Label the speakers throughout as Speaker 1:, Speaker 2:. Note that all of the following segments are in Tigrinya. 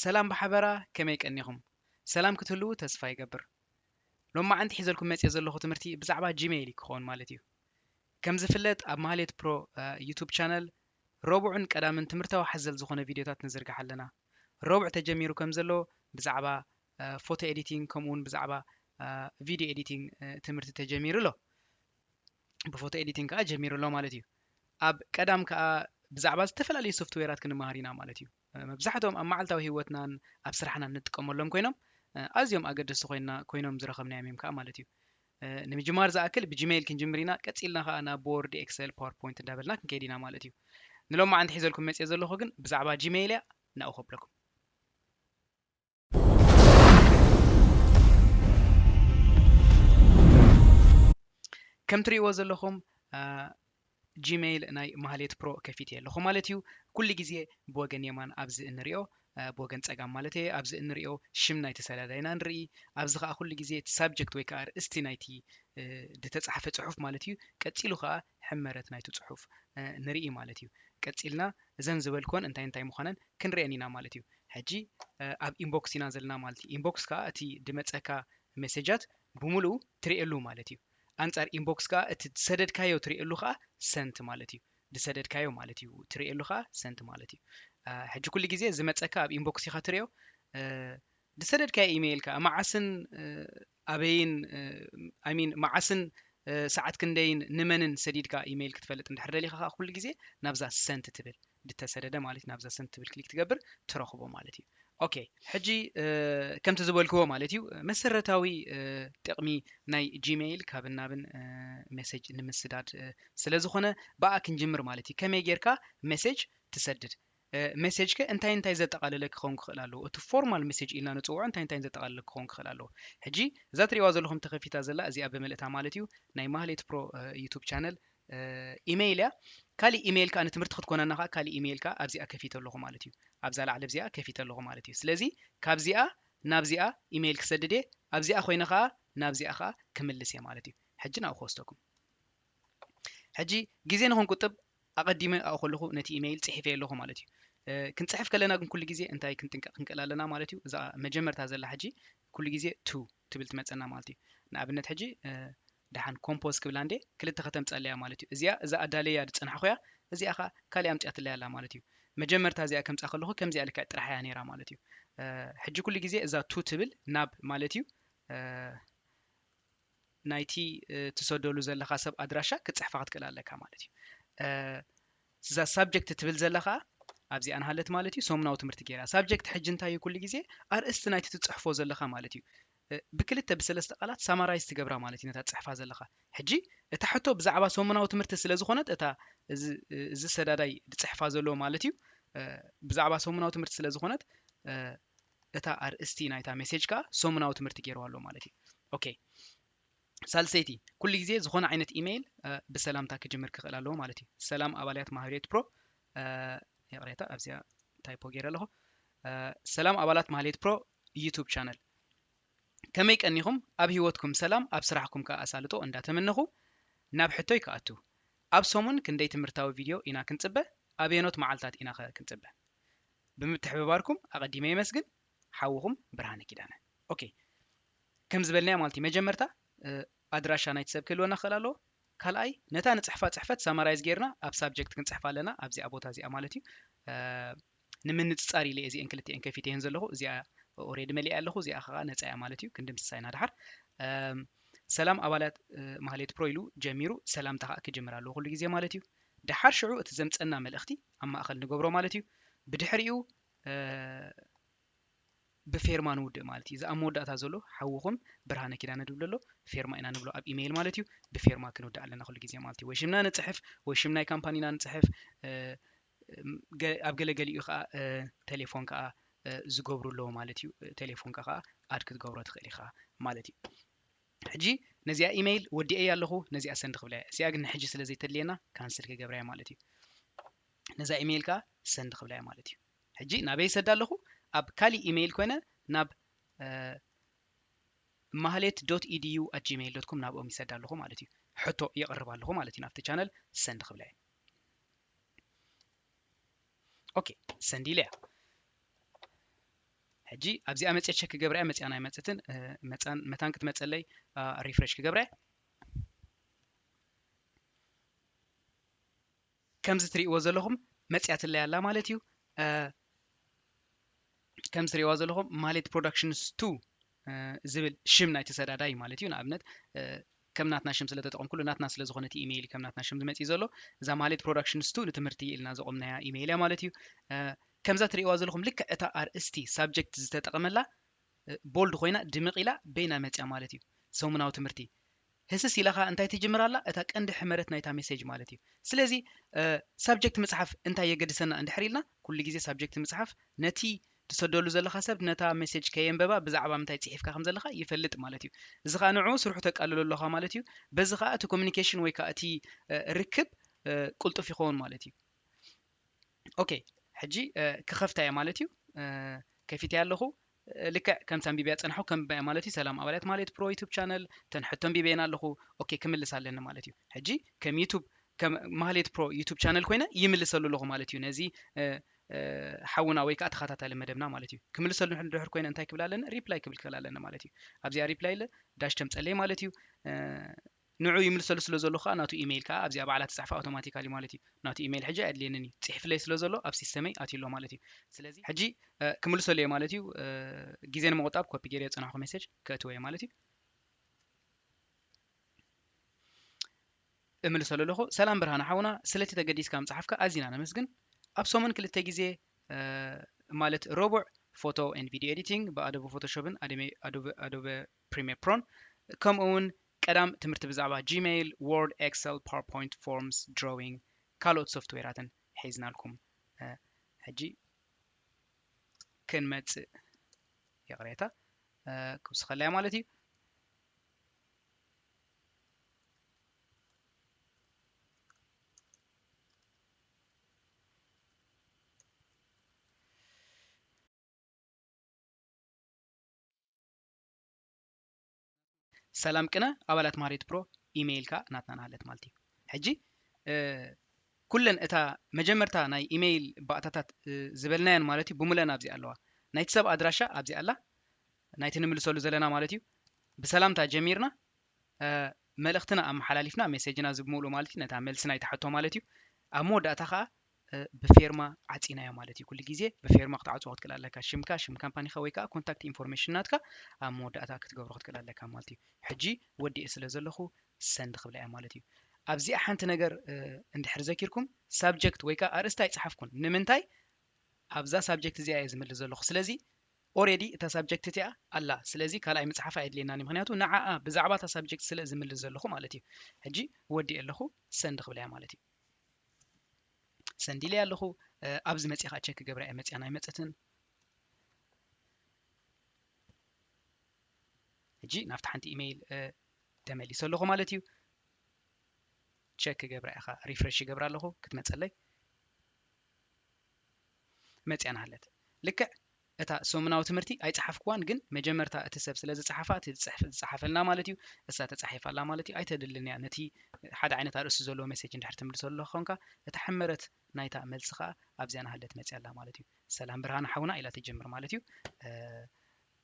Speaker 1: ሰላም ብሓበራ ከመይ ቀኒኹም ሰላም ክትህልዉ ተስፋ ይገብር ሎማዓንቲ ሒዘልኩም መጽየ ዘለኹ ትምህርቲ ብዛዕባ ጂሜይል እዩ ክኾን ማለት እዩ ከም ዝፍለጥ ኣብ ማህሌት ፕሮ ዩቱብ ቻነል ረቡዕን ቀዳምን ትምህርታዊ ሓዘል ዝኾነ ቪድዮታት ንዝርግሕ ኣለና ረቡዕ ተጀሚሩ ከምዘሎ ብዛዕባ ፎቶ ኤዲቲንግ ከምኡ እውን ብዛዕባ ቪድዮ ኤዲቲንግ ትምህርቲ ተጀሚሩ ኣሎ ብፎቶ ኤዲቲንግ ከዓ ጀሚሩ ኣሎ ማለት እዩ ኣብ ቀዳም ከዓ ብዛዕባ ዝተፈላለዩ ሶፍትዌራት ክንመሃር ኢና ማለት እዩ መብዛሕትኦም ኣብ መዓልታዊ ህይወትናን ኣብ ስራሕናን ንጥቀመሎም ኮይኖም ኣዝዮም ኣገደስቲ ኮይና ኮይኖም ዝረኸብናዮም እዮም ከዓ ማለት እዩ ንምጅማር ዝኣክል ብጂሜይል ክንጅምር ኢና ቀጺልና ከኣ ናብ ቦርድ ኤክሰል ፓወር ፖይንት እንዳበልና ክንከይድ ኢና ማለት እዩ ንሎማዓንቲ ሒዘልኩም መጽየ ዘለኹ ግን ብዛዕባ ጂሜይል እያ ናብኡ ከብለኩም ከም ትርእይዎ ዘለኹም ጂመይል ናይ ማህሌት ፕሮ ከፊቴ ኣለኹ ማለት እዩ። ኩሉ ግዜ ብወገን የማን ኣብዚ እንሪኦ ብወገን ጸጋም ማለተየ ኣብዚ እንሪኦ ሽም ናይቲ ሰላዳይ ኢና ንርኢ። ኣብዚ ከኣ ኩሉ ግዜ እቲ ሳብጀክት ወይ ከኣ ኣርእስቲ ናይቲ ድተጻሕፈ ጽሑፍ ማለት እዩ ቀጺሉ ከኣ ሕመረት ናይቲ ጽሑፍ ንርኢ ማለት እዩ። ቀጺልና እዘን ዝበልክወን እንታይ እንታይ ምዃነን ክንርኤን ኢና ማለት እዩ። ሕጂ ኣብ ኢንቦክስ ኢና ዘለና ማለት እዩ። ኢንቦክስ ከኣ እቲ ድመጸካ መሴጃት ብሙሉኡ ትርኤሉ ማለት እዩ። ኣንጻር ኢንቦክስ ከኣ እቲ ዝሰደድካዮ ትርእየሉ ከኣ ሰንት ማለት እዩ ዝሰደድካዮ ማለት እዩ ትርእየሉ ከኣ ሰንት ማለት እዩ ሕጂ ኩሉ ግዜ ዝመጸካ ኣብ ኢንቦክስ ኢኻ ትርእዮ ዝሰደድካዮ ኢሜይል ከኣ መዓስን ኣበይን ኣይሚን መዓስን ሰዓት ክንደይን ንመንን ሰዲድካ ኢሜይል ክትፈልጥ እንድሕር ደሊኻ ከኣ ኩሉ ግዜ ናብዛ ሰንት ትብል ድተሰደደ ማለት ናብዛ ሰንድ ትብል ክሊክ ትገብር ትረኽቦ ማለት እዩ ኦኬ ሕጂ ከምቲ ዝበልክዎ ማለት እዩ መሰረታዊ ጥቕሚ ናይ ጂሜይል ካብ ናብን ሜሴጅ ንምስዳድ ስለ ዝኾነ ብኣ ክንጅምር ማለት እዩ ከመይ ጌርካ ሜሴጅ ትሰድድ ሜሴጅ ከ እንታይ እንታይ ዘጠቓለለ ክኸውን ክኽእል ኣለዎ እቲ ፎርማል ሜሴጅ ኢልና ንፅውዖ እንታይ እንታይ ዘጠቓለለ ክኸውን ክኽእል ኣለዎ ሕጂ እዛ ትሪእዋ ዘለኹም ተኸፊታ ዘላ እዚኣ ብምልእታ ማለት እዩ ናይ ማህሌት ፕሮ ዩቱብ ቻነል ኢመይል እያ ካሊእ ኢመይል ከኣ ንትምህርቲ ክትኮነና ከኣ ካሊእ ኢመይል ከኣ ኣብዚኣ ከፊተ ኣለኹ ማለት እዩ ኣብዛ ላዕሊ ኣብዚኣ ከፊተ ኣለኹ ማለት እዩ ስለዚ ካብዚኣ ናብዚኣ ኢመይል ክሰድድ እየ ኣብዚኣ ኮይነ ከኣ ናብዚኣ ከኣ ክምልስ እየ ማለት እዩ ሕጂ ናብኡ ክወስደኩም ሕጂ ግዜ ንክንቁጥብ ኣቐዲመ ኣብኡ ከለኹ ነቲ ኢመይል ጽሒፈ ኣለኹ ማለት እዩ ክንጽሕፍ ከለና ግን ኩሉ ግዜ እንታይ ክንጥንቀቕ ክንክእል ኣለና ማለት እዩ እዛ መጀመርታ ዘላ ሕጂ ኩሉ ግዜ ቱ ትብል ትመጸና ማለት እዩ ንኣብነት ሕጂ ደሓን ኮምፖዝ ክብላ እንዴ ክልተ ከተምጸለያ ማለት እዩ እዚኣ እዛ ኣዳለያ ዝጸናሕኩያ እዚኣ ከኣ ካልእ ኣምጺኣትለይ ኣላ ማለት እዩ መጀመርታ እዚኣ ከምጻ ከለኹ ከምዚኣ ልክዕ ጥራሕ እያ ነይራ ማለት እዩ ሕጂ ኩሉ ግዜ እዛ ቱ ትብል ናብ ማለት እዩ ናይቲ ትሰደሉ ዘለካ ሰብ ኣድራሻ ክትጽሕፋ ክትክእል ኣለካ ማለት እዩ እዛ ሳብጀክት ትብል ዘላ ከኣ ኣብዚኣ ንሃለት ማለት እዩ ሰሙናዊ ትምህርቲ ጌራ። ሳብጀክት ሕጂ እንታይ እዩ ኩሉ ግዜ ኣርእስቲ ናይቲ ትጽሕፎ ዘለኻ ማለት እዩ ብክልተ ብሰለስተ ቃላት ሳማራይዝ ትገብራ ማለት እዩ ነታ ትጽሕፋ ዘለኻ። ሕጂ እታ ሕቶ ብዛዕባ ሰሙናዊ ትምህርቲ ስለ ዝኾነት እታ እዚ እዚ ሰዳዳይ ድጽሕፋ ዘለዎ ማለት እዩ ብዛዕባ ሰሙናዊ ትምህርቲ ስለ ዝኾነት እታ ኣርእስቲ ናይታ ሜሴጅ ከኣ ሰሙናዊ ትምህርቲ ጌርዋ ኣሎ ማለት እዩ። ኦኬ ሳልሰይቲ ኩሉ ግዜ ዝኾነ ዓይነት ኢመይል ብሰላምታ ክጅምር ክኽእል ኣለዎ ማለት እዩ ሰላም ኣባልያት ማህርዮት ፕሮ ይቕሬታ ኣብዚኣ ታይፖ ገይረ ኣለኹ ሰላም ኣባላት ማህሌት ፕሮ ዩቱብ ቻነል ከመይ ቀኒኹም ኣብ ህይወትኩም ሰላም ኣብ ስራሕኩም ከዓ ኣሳልጦ እንዳተመነኹ ናብ ሕቶይ ክኣቱ ኣብ ሰሙን ክንደይ ትምህርታዊ ቪድዮ ኢና ክንፅበ ኣበየኖት መዓልታት ኢና ኸ ክንፅበ ብምትሕብባርኩም ኣቐዲመ የመስግን ሓውኹም ብርሃነ ኪዳነ ኦኬ ከም ዝበልናዮ ማለት እዩ መጀመርታ ኣድራሻ ናይቲ ሰብ ክህልወና ክኽእል ኣለዎ ካልኣይ ነታ ንጽሕፋ ጽሕፈት ሳማራይዝ ጌርና ኣብ ሳብጀክት ክንጽሕፋ ኣለና ኣብዚኣ ቦታ እዚኣ ማለት እዩ ንምንጽጻር ኢለ እዚአን ክልቲኤን ከፊተየን ዘለኹ እዚኣ ኦሬዲ መሊኣ ኣለኹ እዚኣ ከዓ ነፃ እያ ማለት እዩ ክንድምስሳ ኢና ድሓር ሰላም ኣባላት ማህሌት ፕሮ ኢሉ ጀሚሩ ሰላምታ ከዓ ክጅምር ኣለዎ ኩሉ ግዜ ማለት እዩ ድሓር ሽዑ እቲ ዘምፀና መልእኽቲ ኣብ ማእኸል ንገብሮ ማለት እዩ ብድሕሪኡ ብፌርማ ንውድእ ማለት እዩ እዚ ኣብ መወዳእታ ዘሎ ሓውኹም ብርሃነ ኪዳነ ድብል ኣሎ ፌርማ ኢና ንብሎ ኣብ ኢመይል ማለት እዩ ብፌርማ ክንውድእ ኣለና ኩሉ ግዜ ማለት እዩ ወይ ሽምና ንፅሕፍ ወይ ሽም ናይ ካምፓኒና ንፅሕፍ ኣብ ገለ ገሊኡ ከዓ ቴሌፎን ከዓ ዝገብሩ ኣለዎ ማለት እዩ ቴሌፎንካ ከዓ ኣድ ክትገብሮ ትኽእል ኢኻ ማለት እዩ ሕጂ ነዚኣ ኢመይል ወዲኤያ ኣለኹ ነዚኣ ሰንድ ክብላ እያ እዚኣ ግን ንሕጂ ስለ ዘይተድልየና ካንስል ክገብራ እያ ማለት እዩ ነዛ ኢመይል ከዓ ሰንድ ክብላ እያ ማለት እዩ ሕጂ ናበይ ይሰዳ ኣለኹ ኣብ ካሊእ ኢመይል ኮይነ ናብ ማህሌት ዶት ኢድዩ ኣት ጂመይል ዶት ኮም ናብኦም ይሰዳ ኣለኹ ማለት እዩ ሕቶ የቕርብ ኣለኹ ማለት እዩ ናብቲ ቻነል ሰንድ ክብላ እየ ኦኬ ሰንድ ኢለያ ሕጂ ኣብዚኣ መፅየ ቸክ ክገብራ እያ መፅያን ኣይመፅትን መፃን መታን ክትመፀለይ ሪፍሬሽ ክገብራ እያ ከምዚ ትሪእዎ ዘለኹም መጺኣትለይ ኣላ ማለት እዩ ከምዚ ትሪእዋ ዘለኹም ማሌት ፕሮዳክሽንስ ቱ ዝብል ሽም ናይቲ ሰዳዳይ ማለት እዩ ንኣብነት ከም ናትና ሽም ስለ ተጠቐምኩሉ ናትና ስለ ዝኾነ እቲ ኢሜይል ከም ናትና ሽም ዝመፅእ ዘሎ እዛ ማሌት ፕሮዳክሽንስ ቱ ንትምህርቲ ኢልና ዘቆምናያ ኢሜይል እያ ማለት እዩ ከምዛ ትሪእዋ ዘለኹም ልክዕ እታ ኣርእስቲ ሳብጀክት ዝተጠቐመላ ቦልድ ኮይና ድምቕ ኢላ በይና መፅያ ማለት እዩ ሰሙናዊ ትምህርቲ ህስስ ኢላኻ እንታይ ትጅምር ኣላ እታ ቀንዲ ሕመረት ናይታ ሜሴጅ ማለት እዩ ስለዚ ሳብጀክት ምጽሓፍ እንታይ የገድሰና እንድሕር ኢልና ኩሉ ግዜ ሳብጀክት ምጽሓፍ ነቲ ትሰደሉ ዘለኻ ሰብ ነታ ሜሴጅ ከየንበባ ብዛዕባ ምንታይ ጽሒፍካ ከም ዘለኻ ይፈልጥ ማለት እዩ እዚ ከኣ ንዕኡ ስርሑ ተቃልሎ ኣለኻ ማለት እዩ በዚ ከኣ እቲ ኮሚኒኬሽን ወይ ከኣ እቲ ርክብ ቅልጡፍ ይኸውን ማለት እዩ ኦኬ ሕጂ ክኸፍታ እየ ማለት እዩ ከፊተያ ኣለኹ ልክዕ ከምቲ ኣንቢብያ ፀናሑ ከምብያ ማለት እዩ ሰላም ኣባላት ማለት ፕሮ ዩቱብ ቻነል ተን ሕቶ ኣንቢበየን ኣለኹ ኦኬ ክምልስ ኣለኒ ማለት እዩ ሕጂ ከም ዩቱብ ከም ማህሌት ፕሮ ዩቱብ ቻነል ኮይነ ይምልሰሉ ኣለኹ ማለት እዩ ነዚ ሓውና ወይ ከዓ ተኸታታሊ መደብና ማለት እዩ ክምልሰሉ ድሕር ኮይነ እንታይ ክብል ኣለኒ ሪፕላይ ክብል ክእል ኣለኒ ማለት እዩ ኣብዚኣ ሪፕላይ ዳሽ ተምፀለይ ማለት እዩ ንዑ ይምልሰሉ ስለ ዘሎ ከኣ ናቱ ኢመይል ከኣ ኣብዚኣ ባዕላ ትጽሕፋ ኣውቶማቲካሊ ማለት እዩ ናቱ ኢመይል ሕጂ ኣየድልየንን እዩ ጺሒፍለይ ስለ ዘሎ ኣብ ሲስተመይ ኣትዩ ኣሎ ማለት እዩ ስለዚ ሕጂ ክምልሰሉ እየ ማለት እዩ ግዜ ንምቁጣብ ኮፒ ጌሬ ዝጸናሕኩ ሜሴጅ ከእትዎ እየ ማለት እዩ እምልሰሉ ኣለኹ ሰላም ብርሃነ ሓውና ስለቲ ተገዲስካ ምጽሓፍካ ኣዚና ነመስግን ኣብ ሰሙን ክልተ ግዜ ማለት ረቡዕ ፎቶ ኤንድ ቪድዮ ኤዲቲንግ ብኣዶበ ፎቶሾፕን ኣዶበ ፕሪሜር ፕሮን ከምኡ ውን ቀዳም ትምህርቲ ብዛዕባ ጂመይል ዎርድ ኤክሰል ፓወርፖይንት ፎርምስ ድሮዊንግ ካልኦት ሶፍትዌራትን ሒዝናልኩም ሕጂ ክንመጽእ ይቕሬታ ክውስኸለያ ማለት እዩ ሰላም ቅነ ኣባላት ማህሬት ፕሮ ኢመይልካ ናትና ናሃለት ማለት እዩ ሕጂ ኩለን እታ መጀመርታ ናይ ኢመይል ባእታታት ዝበልናየን ማለት እዩ ብሙለን ኣብዚ ኣለዋ ናይቲ ሰብ ኣድራሻ ኣብዚ ኣላ ናይቲ ንምልሰሉ ዘለና ማለት እዩ ብሰላምታ ጀሚርና መልእኽትና ኣመሓላሊፍና ሜሴጅና ዝብምሉ ማለት እዩ ነታ መልሲ ናይቲ ሕቶ ማለት እዩ ኣብ መወዳእታ ከዓ ብፌርማ ዓፂናዮ ማለት እዩ ኩሉ ግዜ ብፌርማ ክትዓፅዎ ክትክእል ኣለካ ሽምካ ሽም ካምፓኒካ ወይ ከዓ ኮንታክት ኢንፎርሜሽን ናትካ ኣብ መወዳእታ ክትገብሮ ክትክእል ኣለካ ማለት እዩ ሕጂ ወዲኤ ስለ ዘለኹ ሰንድ ክብላ እያ ማለት እዩ ኣብዚኣ ሓንቲ ነገር እንድሕር ዘኪርኩም ሳብጀክት ወይ ከዓ ኣርእስቲ ኣይፅሓፍኩን ንምንታይ ኣብዛ ሳብጀክት እዚኣ እየ ዝምልስ ዘለኹ ስለዚ ኦሬዲ እታ ሳብጀክት እቲኣ ኣላ ስለዚ ካልኣይ ምፅሓፍ ኣየድልየናን ምክንያቱ ንዓኣ ብዛዕባ እታ ሳብጀክት ስለ ዝምልስ ዘለኹ ማለት እዩ ሕጂ ወዲእ ኣለኹ ሰንድ ክብላ እያ ማለት እዩ ሰንድ ኢለያ ኣለኹ ኣብዚ መፅየ ከዓ ቸክ ክገብራ እየ መፅያን ኣይመፀትን ሕጂ ናብቲ ሓንቲ ኢሜይል ተመሊሰ ኣለኹ ማለት እዩ ቸክ ክገብራ እየ ከዓ ሪፍሬሽ ይገብራ ኣለኹ ክትመፀለይ መፅያ ናሃለት ልክዕ እታ ሰሙናዊ ትምህርቲ ኣይጸሓፍኩዋን ግን መጀመርታ እቲ ሰብ ስለ ዝጸሓፋ እቲ ጽሕፍ ዝጸሓፈልና ማለት እዩ እሳ ተጻሒፋ ኣላ ማለት እዩ ኣይተድልን እያ ነቲ ሓደ ዓይነት ኣርእስቲ ዘለዎ መሴጅ እንድሕር ትምልሰሉ ኣለኻ ኮንካ እታ ሕመረት ናይታ መልሲ ከኣ ኣብዚኣ ናሃለት መጽያ ኣላ ማለት እዩ ሰላም ብርሃነ ሓውና ኢላ ትጅምር ማለት እዩ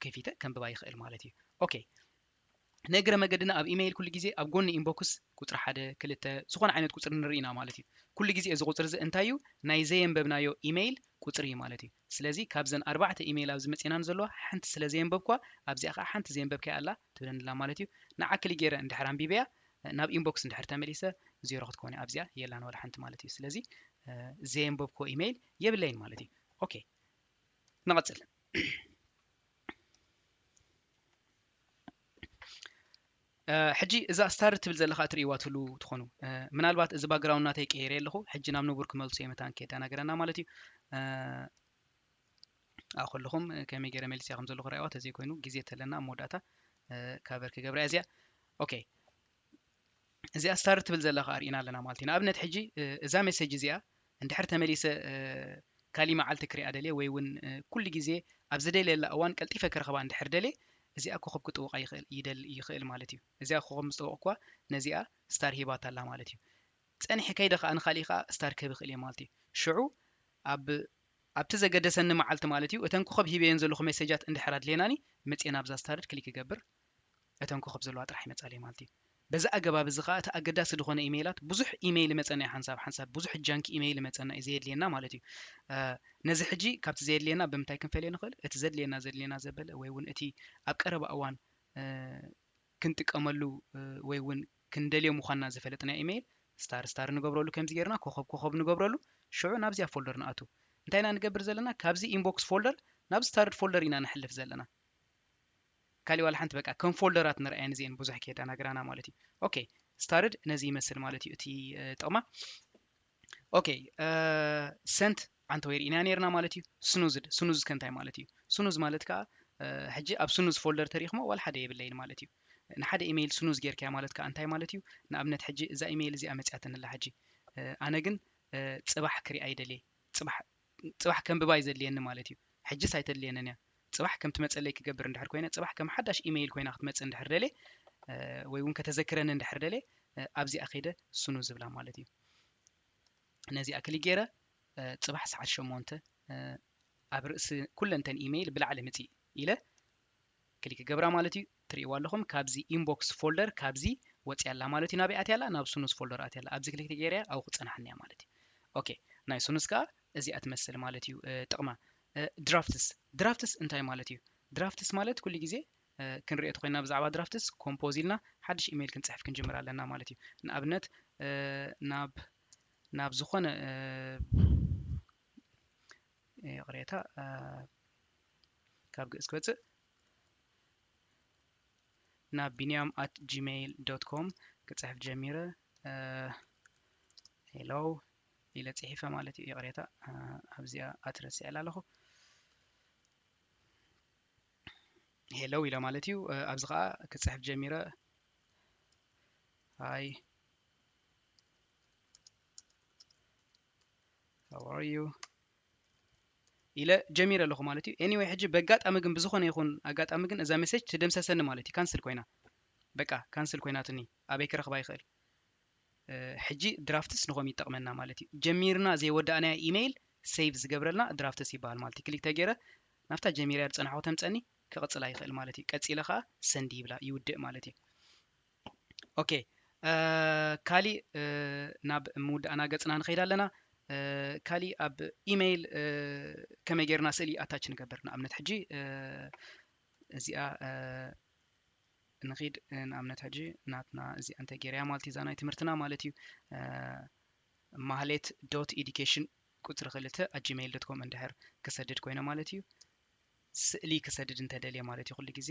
Speaker 1: ከፊተ ከንብባ ይኽእል ማለት እዩ ኦኬ ንእግረ መገድና ኣብ ኢመይል ኩሉ ግዜ ኣብ ጎኒ ኢንቦክስ ቁጽሪ ሓደ ክልተ ዝኾነ ዓይነት ቁጽሪ ንርኢ ኢና ማለት እዩ ኩሉ ግዜ እዚ ቁጽሪ እዚ እንታይ እዩ ናይ ዘየንበብናዮ ኢመይል ቁጽሪ እዩ ማለት እዩ ስለዚ ካብዘን ኣርባዕተ ኢመይል ኣብዚ መጺናኒ ዘለዋ ሓንቲ ስለ ዘየንበብክዋ ኣብዚኣ ከኣ ሓንቲ ዘየንበብካያ ኣላ ትብለኒ ኣላ ማለት እዩ ንዓ ክሊ ገይረ እንድሕር ኣንቢበያ ናብ ኢንቦክስ እንድሕር ተመሊሰ ዜሮ ክትኮን እያ ኣብዚኣ የላን ዋላ ሓንቲ ማለት እዩ ስለዚ ዘየንበብክዎ ኢመይል የብለይን ማለት እዩ ኦኬ ንቐጽል ሕጂ እዛ ስታር ትብል ዘለካ እትርእይዋ ትህሉ ትኾኑ ምናልባት እዚ ባግራውንድ ናተይ ቀይረ ኣለኹ ሕጂ ናብ ንቡር ክመልሶ እየ መታን ከየደናገረና ማለት እዩ ኣብኡ ከለኹም ከመይ ገይረ መሊስያ ከም ዘለኹ ርእዋ ተዘይኮይኑ ግዜ ተለና ኣብ መወዳእታ ካቨር ክገብራ እያ እዚኣ ኦኬ እዚኣ ስታር ትብል ዘላ ከኣ ርኢና ኣለና ማለት እዩ ንኣብነት ሕጂ እዛ ሜሰጅ እዚኣ እንድሕር ተመሊሰ ካሊእ መዓልቲ ክሪኣ ደልየ ወይ እውን ኩሉ ግዜ ኣብ ዝደልየላ እዋን ቀልጢፈ ክረኽባ እንድሕር ደልየ እዚኣ ኮኸብ ክጥውቃ ይኽእል ይደል ይኽእል ማለት እዩ እዚኣ ኮኸብ ምስ ጠወቕኳ ነዚኣ ስታር ሂባታ ኣላ ማለት እዩ ጸኒሐ ከይደ ከኣ ንኻልእ ከኣ ስታር ክህብ ይኽእል እየ ማለት እዩ ሽዑ ኣብ ኣብቲ ዘገደሰኒ መዓልቲ ማለት እዩ እተን ኮኸብ ሂበየን ዘለኹ ሜሴጃት እንድሕር ኣድልየናኒ መጽኤ ናብዛ ስታርድ ክሊክ ይገብር እተን ኮኾብ ዘለዋ ጥራሕ ይመጻለይ ማለት እዩ። በዚ ኣገባብ እዚ ከኣ እቲ ኣገዳሲ ዝኾነ ኢመይላት ብዙሕ ኢመይል ይመጸና እዩ ሓንሳብ ሓንሳብ ብዙሕ ጃንኪ ኢመይል ይመጸና እዩ ዘየድልየና ማለት እዩ። ነዚ ሕጂ ካብቲ ዘየድልየና ብምንታይ ክንፈልዮ ንኽእል እቲ ዘድልየና ዘድልየና ዘበለ ወይ እውን እቲ ኣብ ቀረባ እዋን ክንጥቀመሉ ወይ እውን ክንደልዮ ምዃንና ዝፈለጥናዮ ኢመይል ስታር ስታር ንገብረሉ ከምዚ ጌርና ኮኾብ ኮኾብ ንገብረሉ ሽዑ ናብዚኣ ፎልደር ንኣቱ እንታይ ኢና ንገብር ዘለና ካብዚ ኢንቦክስ ፎልደር ናብ ስታርድ ፎልደር ኢና ንሕልፍ ዘለና ካሊእ ዋላ ሓንቲ በቃ ከም ፎልደራት ንርኣየን እዚኤን ብዙሕ ከየዳናግራና ማለት እዩ ኦኬ ስታርድ ነዚ ይመስል ማለት እዩ እቲ ጥቕማ ኦኬ ሰንት ኣንተ ወይ ርኢና ነርና ማለት እዩ ስኑዝድ ስኑዝ ከንታይ ማለት እዩ ስኑዝ ማለት ከዓ ሕጂ ኣብ ስኑዝ ፎልደር ተሪኽሞ ዋላ ሓደ የብለይን ማለት እዩ ንሓደ ኢሜይል ስኑዝ ጌርካያ ማለት ከዓ እንታይ ማለት እዩ ንኣብነት ሕጂ እዛ ኢሜይል እዚኣ መፅያትንላ ሕጂ ኣነ ግን ፅባሕ ክሪኣ ይደልየ ፅባሕ ጽባሕ ከንብባ እዩ ዘድልየኒ ማለት እዩ። ሕጂስ ኣይተድልየንን እያ። ጽባሕ ከም ትመጸለይ ክገብር እንድሕር ኮይነ፣ ጽባሕ ከም ሓዳሽ ኢ-መይል ኮይና ክትመጽእ እንድሕር ደልየ ወይ እውን ከተዘክረኒ እንድሕር ደልየ ኣብዚኣ ከይደ ስኑዝ እብላ ማለት እዩ። ነዚኣ ክሊክ ገይረ ጽባሕ ሰዓት ሸሞንተ ኣብ ርእሲ ኩለንተን ኢ-መይል ብላዕሊ ምጺእ ኢለ ክሊክ ክገብራ ማለት እዩ ትሪእዋ ኣለኹም ካብዚ ኢንቦክስ ፎልደር ካብዚ ወፂኣ ኣላ ማለት እዩ ናበይ ኣትያ ኣላ ናብ ስኑስ ፎልደር ኣትያ ኣላ ኣብዚ ክሊክ ተገይረያ ኣብኡ ክፀናሓኒ እያ ማለት እዩ ኦኬ ናይ ስኑስ ከዓ እዚኣ ትመስል ማለት እዩ ጥቕማ ድራፍትስ ድራፍትስ እንታይ ማለት እዩ ድራፍትስ ማለት ኩሉ ግዜ ክንሪኦ ተኮይና ብዛዕባ ድራፍትስ ኮምፖዝ ኢልና ሓድሽ ኢሜይል ክንፅሕፍ ክንጅምር ኣለና ማለት እዩ ንኣብነት ናብ ናብ ዝኾነ ይቕሬታ ካብ ግእዝ ክወፅእ ናብ ቢንያም ኣት ጂሜይል ዶት ኮም ክፅሕፍ ጀሚረ ሄሎ ኢለ ፅሒፈ ማለት እዩ ይቕሬታ ኣብዚኣ ኣትረስዕላ ኣለኹ ሄሎ ኢለ ማለት እዩ ኣብዚ ከዓ ክፅሕፍ ጀሚረ ሃይ how are you ኢለ ጀሚረ ኣለኹ ማለት እዩ ኤኒወይ ሕጂ በጋጣሚ ግን ብዝኾነ ይኹን ኣጋጣሚ ግን እዛ ሜሴጅ ትደምሰሰኒ ማለት እዩ ካንስል ኮይና በቃ ካንስል ኮይናትኒ ኣበይ ክረኽባ ይኽእል ሕጂ ድራፍትስ ንኸም ይጠቕመና ማለት እዩ ጀሚርና ዘይወዳእናዮ ኢሜይል ሴቭ ዝገብረልና ድራፍትስ ይበሃል ማለት እዩ ክሊክ ተገይረ ናብታ ጀሚርያ ዝፀናሕኩ ተምፀኒ ክቕፅላ ይኽእል ማለት እዩ ቀፂለ ከዓ ሰንዲ ይብላ ይውድእ ማለት እዩ ኦኬ ካሊእ ናብ ምውዳእና ገፅና ንኸይድ ኣለና ካሊእ ኣብ ኢመይል ከመይ ጌርና ስእሊ ኣታች ንገብር ንኣብነት ሕጂ እዚኣ ንኺድ ንኣብነት ሕጂ ናትና እዚኣ እንተ ጌርያ ማለት እዩ እዛ ናይ ትምህርትና ማለት እዩ ማህሌት ዶት ኤዲኬሽን ቁፅሪ ክልተ ኣጂሜይል ዶት ኮም እንድሕር ክሰድድ ኮይነ ማለት እዩ ስእሊ ክሰድድ እንተደልየ ማለት እዩ ኩሉ ግዜ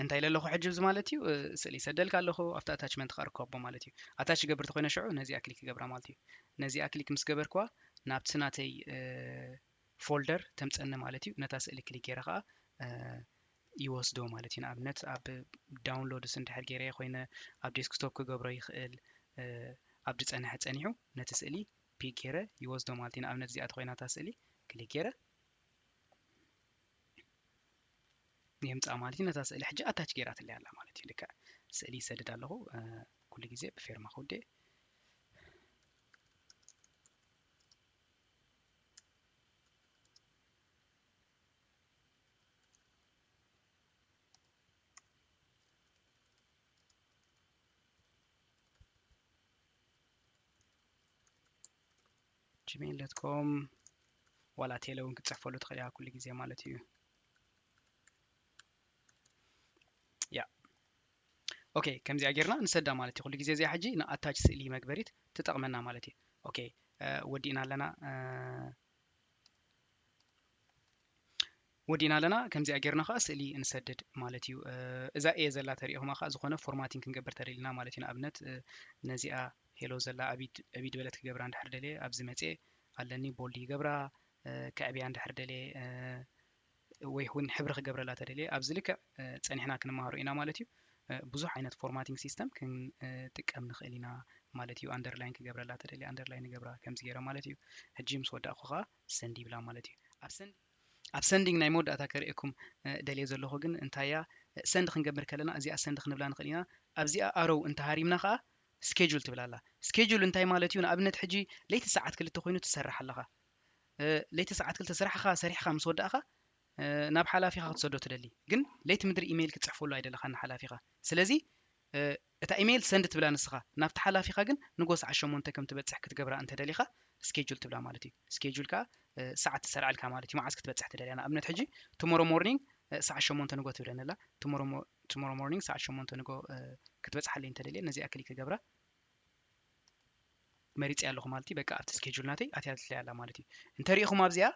Speaker 1: እንታይ ኢለ ኣለኹ ሕጂ እዚ ማለት እዩ ስእሊ ይሰደልካ ኣለኹ ኣብቲ ኣታችመንት ከዓ ርካቦ ማለት እዩ ኣታች ይገብር ተኮይነ ሽዑ ነዚኣ ክሊክ ይገብራ ማለት እዩ ነዚኣ ክሊክ ምስ ገበርክዋ ናብቲ ናተይ ፎልደር ተምፀኒ ማለት እዩ ነታ ስእሊ ክሊክ ገይረ ከዓ ይወስዶ ማለት እዩ ንኣብነት ኣብ ዳውንሎድስ እንድሕር ገይረ ኮይነ ኣብ ዴስክቶፕ ክገብሮ ይኽእል ኣብ ዝፀንሐ ፀኒሑ ነቲ ስእሊ ፒክ ገይረ ይወስዶ ማለት እዩ ንኣብነት እዚኣ ተኮይና እታ ስእሊ ክሊክ ገይረ የምጽኣ ማለት እዩ ነዛ ስእሊ ሕጂ ኣታች ገይራትለይ ኣላ ማለት እዩ ልክዕ ስእሊ ይሰድድ ኣለኹ ኩሉ ግዜ ብፌርማ ክውዴ ጂሜይል ዶት ኮም ዋላ ቴለ እውን ክትፅሕፈሉ ትኽእል ኢኻ ኩሉ ግዜ ማለት እዩ ያ ኦኬ ከምዚኣ ጌርና ንሰዳ ማለት እዩ ኩሉ ግዜ እዚኣ ሕጂ ንኣታች ስእሊ መግበሪት ትጠቕመና ማለት እዩ ኦኬ ወዲእና ኣለና ወዲእና ኣለና ከምዚኣ ጌርና ከኣ ስእሊ ንሰድድ ማለት እዩ እዛ ኤ ዘላ ተሪኢኹማ ከኣ ዝኾነ ፎርማቲንግ ክንገብር ተደሊና ማለት እዩ ንኣብነት ነዚኣ ሄሎ ዘላ ኣቢድ ኣቢድ በለት ክገብራ እንድሕር ደልየ ኣብዚ መጽየ ኣለኒ ቦልድ ይገብራ ከዕብያ እንድሕር ደልየ ወይ እውን ሕብሪ ክገብረላ ተደልየ ኣብዚ ልክዕ ፀኒሕና ክንመሃሮ ኢና ማለት እዩ ብዙሕ ዓይነት ፎርማቲንግ ሲስተም ክንጥቀም ንኽእል ኢና ማለት እዩ ኣንደርላይን ክገብረላ ተደልየ ኣንደርላይን ንገብራ ከምዚ ገይረ ማለት እዩ ሕጂ ምስ ወዳእኩ ከዓ ሰንድ ይብላ ማለት እዩ ኣብ ሰንድ ኣብ ሰንዲንግ ናይ መወዳእታ ከርእየኩም ደልየ ዘለኹ ግን እንታይ እያ ሰንድ ክንገብር ከለና እዚኣ ሰንድ ክንብላ ንኽእል ኢና ኣብዚኣ ኣሮው እንተሃሪምና ከኣ ስኬጁል ትብል ኣላ ስኬጁል እንታይ ማለት እዩ ንኣብነት ሕጂ ለይቲ ሰዓት ክልተ ኮይኑ ትሰርሕ ኣለኻ ለይቲ ሰዓት ክልተ ስራሕኻ ሰሪሕኻ ምስ ወዳእኻ ናብ ሓላፊኻ ክትሰዶ ትደሊ ግን ለይቲ ምድሪ ኢሜይል ክትጽሕፈሉ ኣይደለኻን ንሓላፊኻ ስለዚ እታ ኢመይል ሰንድ ትብላ ንስኻ ናብቲ ሓላፊኻ ግን ንጎስ ዓሽ ሸሞንተ ከም ትበጽሕ ክትገብራ እንተ ደሊኻ ስኬጁል ትብላ ማለት እዩ ስኬጁል ከኣ ሰዓት ትሰርዓልካ ማለት እዩ መዓስ ክትበጽሕ ትደልያ ንኣብነት ሕጂ ቱሞሮ ሞርኒንግ ሰዓት ሸሞንተ ንጎ ትብለኒ ኣላ ቱሞሮ ቱሞሮ ሞርኒንግ ሰዓት ሸሞንተ ንጎ ክትበጽሓለይ እንተ ደልየ ነዚኣ ክሊክ ክገብራ መሪጸያ ኣለኹ ማለት እዩ በቃ ኣብቲ ስኬጁል ናተይ ኣትያትለይ ኣላ ማለት እዩ እንተ ሪኢኹም ኣብዚኣ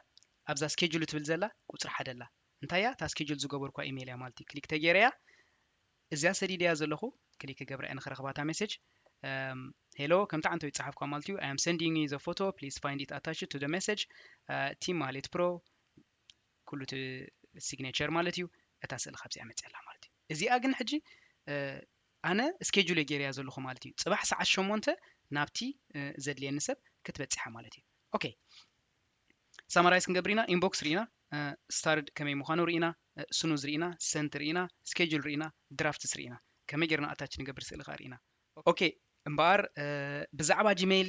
Speaker 1: ኣብዛ ስኬጁል ትብል ዘላ ቁጽሪ ሓደ ኣላ እንታይ እያ እታ ስኬጁል ዝገበርኳ ኢመይል እያ ማለት እዩ ክሊክ ተገይረያ እዚኣ ሰዲደያ ዘለኹ ክሊክ ክገብራ እየ ንኽረኽባ እታ ሜሴጅ ሄሎ ከምቲ ዓንተው ይጸሓፍኳ ማለት እዩ ኣይ ኣም ሰንዲንግ ዩ ዘ ፎቶ ፕሊዝ ፋይንድ ኢት ኣታችድ ቱ ዘ ሜሴጅ ቲም ማህሌት ፕሮ ኩሉ እቲ ሲግኔቸር ማለት እዩ እታ ስእሊ ካብዚኣ መጽያ ኣላ ማለት እዩ እዚኣ ግን ሕጂ ኣነ ስኬጁል እየ ገይረያ ዘለኹ ማለት እዩ ጽባሕ ሰዓት ሸሞንተ ናብቲ ዘድልየኒ ሰብ ክትበጽሓ ማለት እዩ ኦኬ ሳማራይዝ ክንገብር ኢና ኢንቦክስ ሪኢና ስታርድ ከመይ ምኳኑ ሪኢና ስኑዝ ሪኢና ሰንት ሪኢና ስኬጁል ሪኢና ድራፍትስ ሪኢና ከመይ ጌርና ኣታች ንገብር ስእሊ ከኣ ሪኢና ኦኬ እምበኣር ብዛዕባ ጂመይል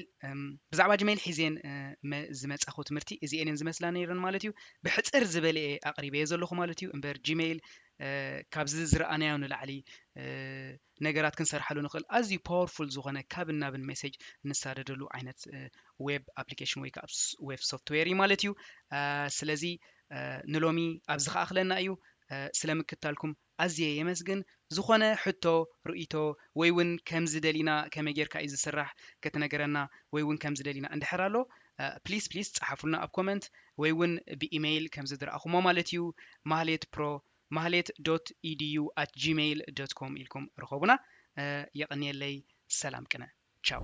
Speaker 1: ብዛዕባ ጂመይል ሒዜን ዝመጻኹ ትምህርቲ እዚኤን እየን ዝመስላ ነይረን ማለት እዩ ብሕጽር ዝበለ እየ ኣቕሪበየ ዘለኹ ማለት እዩ እምበር ጂመይል ካብዚ ዝረኣናዮ ንላዕሊ ነገራት ክንሰርሓሉ ንኽእል ኣዝዩ ፓወርፉል ዝኾነ ካብን ናብን ሜሴጅ እንሳደደሉ ዓይነት ዌብ ኣፕሊኬሽን ወይ ከዓ ዌብ ሶፍትዌር እዩ ማለት እዩ ስለዚ ንሎሚ ኣብዚ ከኣኽለና እዩ ስለ ምክታልኩም ኣዝየ የመስግን ዝኾነ ሕቶ ርእይቶ ወይ እውን ከምዚ ደሊና ከመይ ጌርካ እዩ ዝስራሕ ክትነገረና ወይ እውን ከምዚ ደሊና እንድሕር ኣሎ ፕሊስ ፕሊስ ፀሓፉልና ኣብ ኮመንት ወይ እውን ብኢመይል ከምዚ ዝረኣኹሞ ማለት እዩ ማህሌት ፕሮ ማህሌት ዶት ኢድዩ ኣት ጂመይል ዶት ኮም ኢልኩም ርኸቡና የቐንየለይ ሰላም ቅነ ቻው።